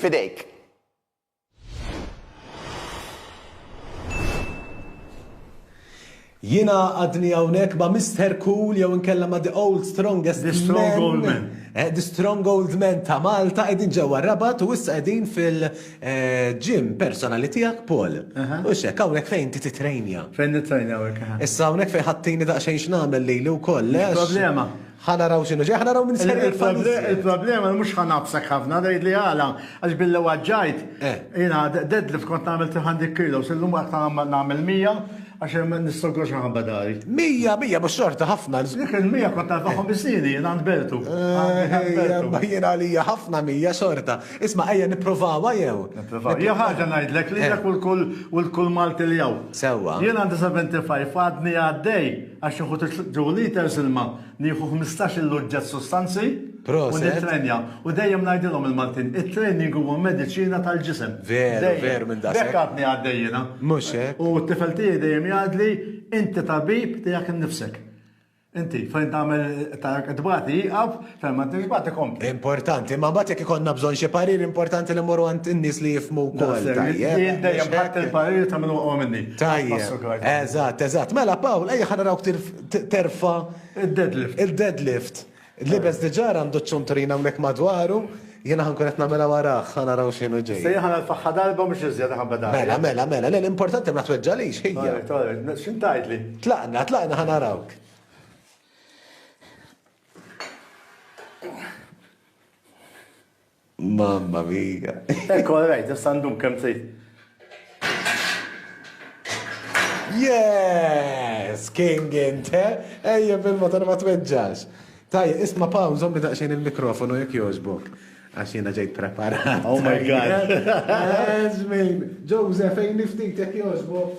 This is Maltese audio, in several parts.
F'idejk. Jiena għadni hawnhekk ma' Mister Cool jew inkella ma' The Old Strongest The Strong Old Man. Eh, the Strong Old Man ta' Malta qegħdin ġewwa Rabat u issa qegħdin fil-ġim eh, personali tiegħek Paul. U xek hawnhekk fejn ti titrejnja. Fejn nitrejnja hawnhekk. Issa hawnhekk fejn ħattini daqsxejn x'nagħmel lili wkoll. Problema. Ħa naraw x'inhu ġej, ħa naraw min ser jaqbad iżjed. Il-problema li mhux ħa ngħabbsek ħafna, tgħidli għala, għax billi waġġajt, jiena deadlift kont nagħmel 300 kilos, illum qatt ma nagħmel 100 għax nistogor xi nħabba dari. 100, 100 mhux xorta ħafna. Dik il-100 kont narbaħhom bis-sieni jien għand Bertu. Imma jien għalija ħafna 100 xorta. Isma' ejja nipprovawha jew? Nipprovaw. Hija ħaġa ngħidlek lilek u lil kull Malti li hawn. Sewwa. Jien għandi 75 għadni għaddej. Għax nieħu two litres ilma, nieħu ħmistax il uġġett sustanzi u nittrenja. U dejjem ngħidilhom il-Maltin, it-training huwa mediċina tal-ġisem. Veru, veru minn daqshekk. Hekk għadni għaddej jiena. Mhux hekk. U t-tifel tiegħi dejjem jgħidli, inti tabib tiegħek innifsek. Inti fejn tagħmel tagħmel tbati jieqaf, Fehma tix bagħti kompli. Importanti, ma mbagħad jekk ikollna bżonn xi parir importanti li mmorru għand in-nies li jifhmu wkoll. Tajjeb. Dejjem ħadd il-parir ta' min huwa minni. Tajjeb. Eżatt, eżatt. Mela Pawl, ejja ħa narawk terfa' il-deadlift. Il-deadlift. Libes diġà għandu ċ-ċunturina hawnhekk madwaru. Jiena ħankun qed nagħmilha warah, ħa naraw x'inhu ġej. Se jieħa l-faħħa darba mhux iżjed ħabba Mela, mela, mela, l-importanti ma tweġġalix ħija. X'intajtli? Tlaqna, tlaqna ħa narawk. Mamma mia. Ekku, għarajt, jessandum kem t Yes! King inte! Ejja bil-motor ma tweġġax. Taj, isma paw, zommi daqxin il-mikrofonu jek joġbok. Għax jena ġejt preparat. Oh my god. Ezmin, Joseph, ej niftit jek joġbok.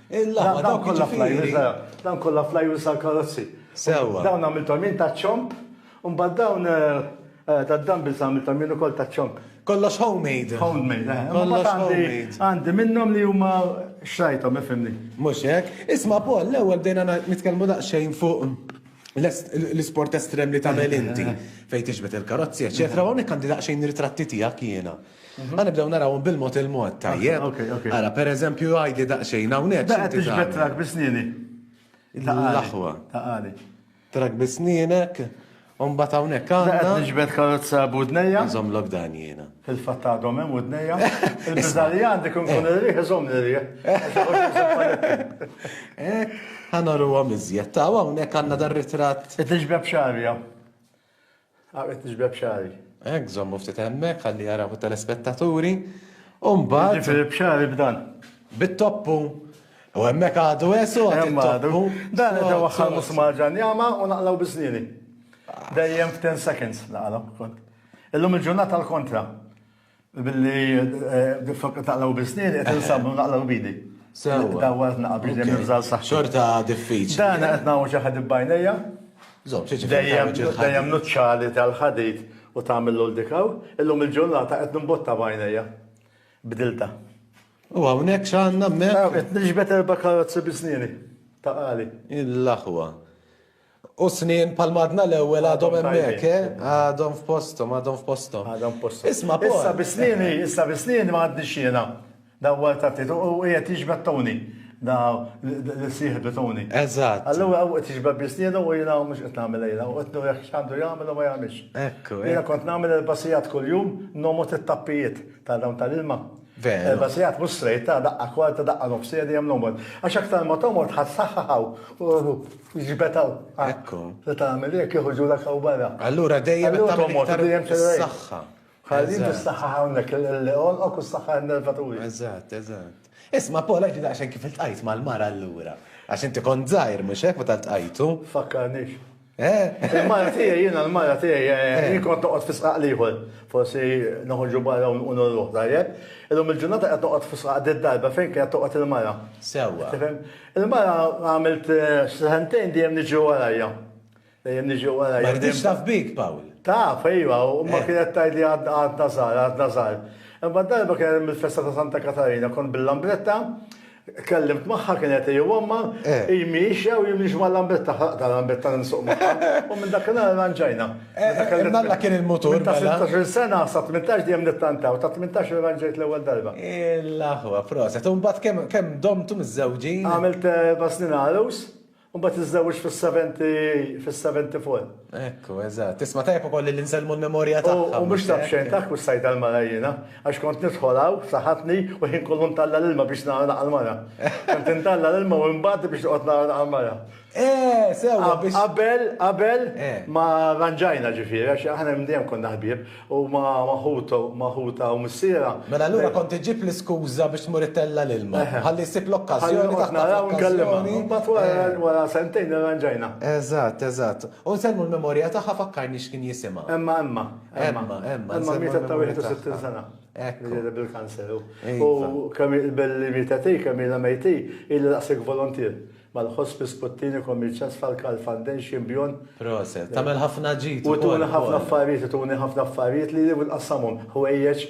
Il-laħwa dawk kollha flajwis, dawn kollha flajwis għall-karozzi. Sewwa. Dawn għamilthom jien ta' ċomp, u mbagħad dawn tad-dumbbells għamilthom jien ukoll ta' ċomp. Kollox homemade. Homemade, eh. Kollox homemade. Għandi minnhom li huma xrajthom, ifhimni. Mhux hekk. Isma' Paul, l-ewwel bdejna nitkellmu daqsxejn fuq l-isport estrem li tagħmel inti fejn tixbet il-karozzi, eċċetera, hawnhekk għandi daqsxejn ritratti tiegħek jiena. Għan nibdew narawhom bil-mod il-mod, tajjeb? Ara, per eżempju, għajdi daqsxejn hawnhekk. Daqqa tixbet trak bisnieni. L-aħwa. Taqali. Trak bisnienek, Umbat hawnhekk għandna. Qed niġbed karozza budnejja. Nżomm lok dan jiena. Fil-fatt għadhom hemm budnejja. Il-biżali għandi kun kun irriħ iżomm irriħ. Ħanoru għom iżjed. Taw hawnhekk għandna dar-ritratt. Qed niġbed xarja. Għaqbet nixbeb xagħri. Hekk żommu ftit hemmhekk ħalli jaraw it-telespettaturi. U mbagħad. Jiġifieri b'xagħri b'dan. Bit-toppu. U hemmhekk għadu esu għadu. Għadu. Dan qed waħħal musmar ġanjama u naqlaw biżnieni. Dejjem f'ten seconds naqlaw kont. Illum il-ġurnata l-kontra. Billi d-fokka taqlaw bisnin, qed insabnu naqlaw bidi. Sewa. Dawwa qed naqbid li nibżal saħħa. Xorta diffiċli. Dan qed nagħmlu xi ħadid bajnejja. Żomm, xi Dejjem nuċċali tal-ħadid u tagħmillu l-dikaw, illum il-ġurnata qed nimbotta bajnejja. Bdilta. U hawnhekk x'għandna hemmhekk? Qed niġbed erba' karozzi bisnieni ta' qali. Il-aħwa. U snien bħal madna l-ewwel għadhom hemmhekk, eh? Għadhom f'posthom, għadhom f'posthom. Għadhom f'posthom. Isma' Paul. Issa bi snieni, issa bi snieni ma għaddix jiena. Dawwar ta' Tito u qiegħed jiġbed Tony. Da li sieħbi Tony. Eżatt. Allura u qed jiġbed bi snienu u jiena mhux qed nagħmel lejla u qed nurih x'għandu jagħmel u ma jagħmilx. Ekku. Jiena kont nagħmel il-basijat kuljum nomgħod it-tappijiet ta' dawn tal-ilma. Veru. Erba' sigħat mhux straight, ta' daqqa kwarta, daqqa nofsija dejjem l-għomor. Għax aktar ma tomgħod ħa ssaħħaħ hawn u ġbed hawn. Ekku. Se tagħmel hekk iħuġulek hawn barra. Allura dejjem qed tagħmel iktar is-saħħa. Ħalli inti ssaħħaħ hawnhekk il-għonqok u ssaħħaħ in-nervaturi. Eżatt, eżatt. Isma' Paul għax daqsxejn kif iltqajt mal-mara allura. Għax inti kont żgħir mhux hekk meta ltqajtu? Fakkarnix. Il-mara tiegħi, jiena l-mara tiegħi, jien kont noqgħod fi sqaq l-ieħor. Forsi noħorġu barra u nurruh, tajjeb? Illum il-ġurnata qed noqgħod fi sqaq d-darba fejn kienet toqgħod il-mara. Sewwa. Tifhem? Il-mara għamilt sentejn dejjem niġi warajha. Dejjem niġi warajha. Ma riditx taf bik, Pawl. Taf, ejwa, u imma kienet tgħidli għadna żgħar, għadna żgħar. Imma darba kien hemm il-festa ta' Santa Katarina, kont bil-lambretta, Kellimt magħha kien qed jgħommha, eh. hi miexja u jien mhix mal-lambetta, ħaqda l-lambetta nsuq magħha. U minn dak il-għal ranġajna. Eh, eh, Malla kien il-mutur. Ta' 16 mela. sena sa 18 dejjem nittantaw, ta' 18 ranġajt l-ewwel darba. Il-aħwa, proset. U mbagħad kemm domtu miż-żewġin? Għamilt basnin għalus. U mbagħad tiżżewġ fis-70 fis-70 full. Ekku, eżatt. Tisma' tajjeb ukoll li nsellmu l-memorja tagħha. U mhux taf xejn taf kussajt tal-mara jiena, għax kont nidħol hawn f'saħħatni u ħin kollu ntalla' l-ilma biex nara naqal mara. Kont intalla' l-ilma u nbati biex noqgħod nara naqal mara. Eh, sewwa biex. Qabel, qabel ma ranġajna ġifieri, għax aħna minn dejjem konna ħbieb. Huma ma' ħutha u missierha. Mela allura kont iġġib l-iskuża biex tmur ittella' l-ilma. Ħalli jsib l-okkażjoni taħtha fl-okkażjoni. Ħalli noqgħod naraw u nkellimha. Imbagħad wara sentejn irranġajna. Eżatt, eżatt. U nsellmu l-memorja tagħha fakkarni x'kien jisimha. Emma, Emma. Emma, Emma. Emma mietet ta' 61 sena. Hekk. Mietet bil-kanser. U kemm hi l-belli mietet hi, kemm ilha mejt hi, ilha daqshekk voluntier. Mal ħospi sputtini kommi ċess falka l fanden xi mbjon. Proset. Tagħmel ħafna ġid ukoll. U tuni ħafna affarijiet, tuni ħafna affarijiet li li nqassamhom. Ħwejjeġ,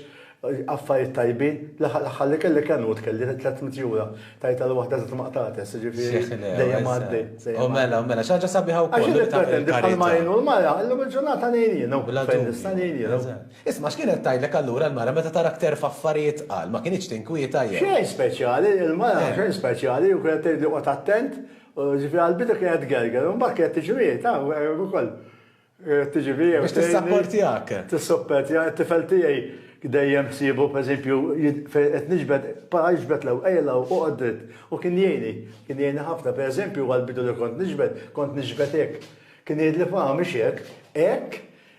affarijiet tajbin. L-aħħar li kelli kien hu tkelli 300 jura. Tajt għal waħda żitt ma qtatx, jiġifieri dejjem għaddej. U mela, u mela, xi ħaġa sabiħa wkoll. Għax jien nippretendi bħalma jgħinu l-mara, illum il-ġurnata ngħin jienu. Bla dubju. Fejn nista' ngħin jienu. Isma' x'kien qed tgħidlek allura l-mara meta tarak terfa' affarijiet tqal, ma kinitx tinkwieta jew? Xejn speċjali, il-mara xejn speċjali u kienet tgħidli qgħod attent, ġifieri għall-bidu kienet tgerger u mbagħad kienet tiġri hi, taf hekk ukoll. Kienet tiġi fija u tgħinni. Biex tissapportjak. Tissuppertjani, it-tifel tiegħi dejjem ssiebu pereżempju fejn qed niġbed, para iġbed l-ewwel, ejja 'l hawn, oqgħod dritt u kien jgħinni, kien jgħinni ħafna. Pereżempju għall-bidu li kont niġbed, kont niġbed hekk, kien jgħidli, Faham mhix hekk, hekk,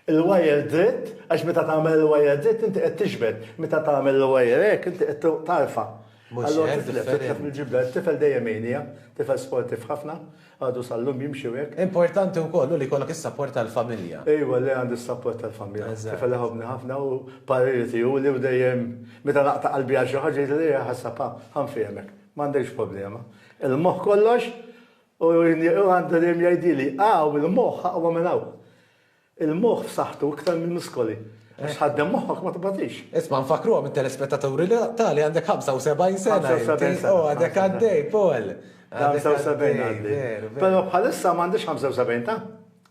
il-wire dritt għax meta tagħmel il-wire dritt inti qed tixbet, meta tagħmel il-wire hekk inti qed tarfa'. Allura titlef, titlef mill-ġibda, it-tifel dejjem jgħinija, tifel sportiv ħafna, għadu sal-lum jimxi u hekk. Importanti wkoll hu li jkollok is-sapport tal-familja. Ejwa le għandi s-sapport tal-familja. Tifel iħobbni ħafna u pariri tiegħu li hu dejjem meta naqta' qalbi għal xi ħaġa jgħidli le ħassab ha, ha nfehmek, m'għandekx problema. Il-moħħ kollox u għandu dejjem jgħidili, ha u l-moħħ aqwa minn hawn. Il-moħħ f'saħħtu iktar mill-muskoli. Għax tħaddem moħħok ma tbatix. Isma' nfakkruhom it-telespettaturi li tali għandek 75 sena. 75 sena. Oh, għadek għaddej, Paul. 75 għaddej. Però bħalissa m'għandix 75 ta'?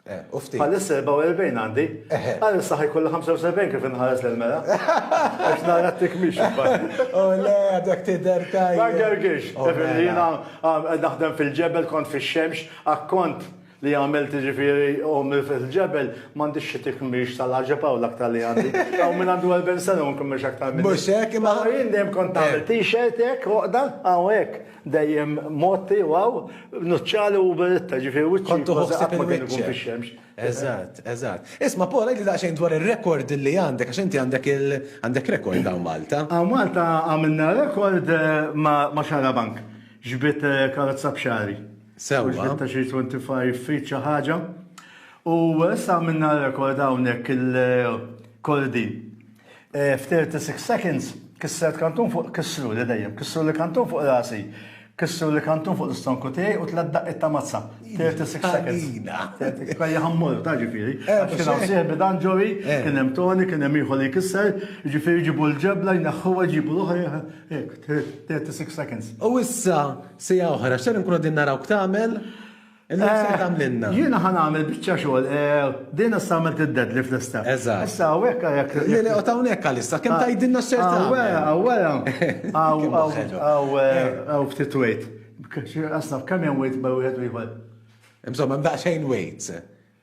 Eh, u ftit. Bħalissa 44 għandi. Eh, eh. Bħalissa ħajkolli 75 kif inħares l-mela. Għax nara t-tikmix. U oh, le, għadek t-der tajja. Għagħarġiex. Oh, mela. Naħdem fil-ġebel, kont fil-xemx, akkont. li għamilt ġifiri ommi fil-ġebel, mandi xie tikmix tal-ħagġeb għaw l-aktar li għandi. Għaw minn għandu għal bensana un kummex aktar minn. Mux ek, ma għaw jindem konta eh. t-shirt ek, uqda, għaw ek, dejjem motti, għaw, nuċċali u beritta ġifiri u ċkontu għuħsib il-wicċ. Eżat, eżat. Isma, Paul, għajli daqxajn dwar il-rekord li għandek, għax inti għandek il-għandek rekord għaw Malta. Għaw Malta għamilna rekord eh, ma xara bank, ġbit eh, karozza bxari. Mhux sewwa. bit-ta' xi 25 feet xi ħaġa. U issa għamilna rekord hawnhekk il-Cory Dean. F'36 seconds kissret kantun fuq, kissruli dejjem, kissruli kantun fuq rasi, kissruli kantun fuq l-istonku tiegħi u tliet daqqiet ta' mazza. 36 seconds. Għalina. Kien jaħ mmorru, taf ġifieri. Eh, Għax kien hawn mhux hekk. sieħbi dan Joey, Eh. kien hemm Tony, kien hemm ieħor li jkisser, jiġifieri jġibu l-ġebla, jneħħuha, jġibu l-oħra, hekk, 36 seconds. U issa Siegħa oħra, x'ser inkunu qegħdin narawk tagħmel? Illum ser tagħmlilna. Jiena ħa nagħmel biċċa xogħol. Din issa għamilt id-deadlift lista. Eżatt. Issa hawnhekk għalhekk. Le le, qgħod hawnhekk għalissa, kemm tgħidilna x'ser tagħmel. Hawn wara, hawn wara. Hawn ftit weight. Qas naf kemm hemm weight bejn wieħed u ieħor. Insomma, hemm daqsxejn weights.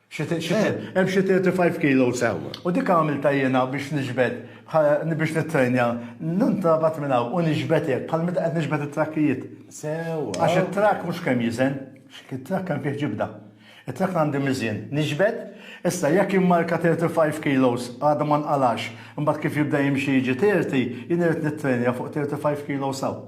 Xi ti- xi ti- Hemm xi 35 kilos hawn. U dik għamiltha jiena biex niġbed, bħal- biex nittrejnja, nintrabat minn hawn u niġbed hekk, bħal meta qed niġbed it-trakkijiet. Sewwa. Għax it-trakk mhux kemm jiżen, it-trakk hemm fih ġibda. It-trakk għandi miżien, niġbed, issa jekk immarka 35 kilos għadu ma nqalgħax, imbagħad kif jibda jimxi jiġi 30, jien irrid nittrejnja fuq 35 kilos hawn.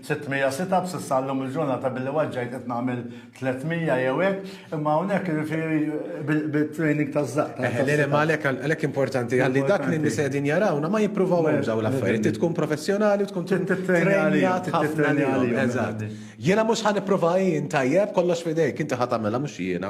600 sit-up s'issa llum il-ġurnata billi waġġajt qed nagħmel 300 jew hekk, imma hawnhekk jiġifieri bit-training taż-żaqq. Eħe, le le, ma għalhekk għalhekk importanti ħalli dak li n-nisa qegħdin jarawna ma jippruvawhomx dawn l-affarijiet. Trid tkun professjonali u tkun tittrejnjat ħafna għalihom. Eżatt. Jiena mhux ħa nipprova jien, tajjeb, kollox f'idejk, inti ħa tagħmilha mhux jiena.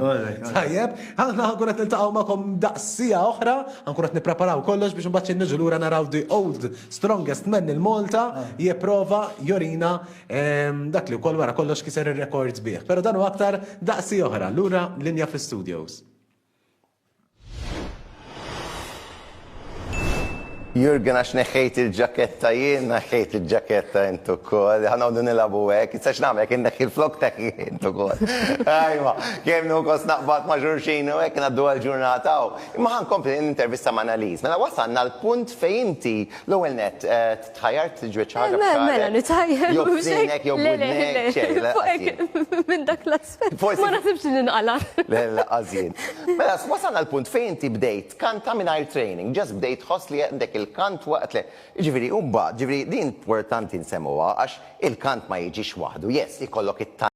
Tajjeb, aħna ħa nkun qed niltaqgħu magħkom daqs siegħa oħra, ħa nkun qed nippreparaw kollox biex imbagħad xi niġu lura naraw the old Strongest man il Malta jipprova jorina dak li wkoll wara kollox kiser ir-rekords bih. Però dan u aktar daqsi oħra lura linja fl-studios. Jurgen għax neħħejt il-ġaketta jien, neħħejt il-ġaketta intu kol, ħanawdu nilabu għek, issa xnam għek neħħi l-flok teħħi intu kol. Ajma, kem nu kos naqbat maġurxin u għek naddu għal-ġurnata u. Imma ħa nkompli nintervista ma' Annalise. Mela wasalna għal punt fejn inti l-ewwel nett tħajjart tiġbed xi ħaġa f'xagħrek. Mela, mela nitħajjar. Jew f'sinek jew f'widnek, xejn, le. Fuq hekk minn dak l-aspett. Forsi. Ma naħsibx li nqala'. Le, le, laqqas jien. Mela, wasalna għal punt fejn inti bdejt tkanta mingħajr training, just bdejt tħoss li għandek il-kant waqt li, jiġifieri u mbagħad, jiġifieri din importanti nsemmugħa għax il-kant ma jiġix waħdu, yes, ikollok it-talent,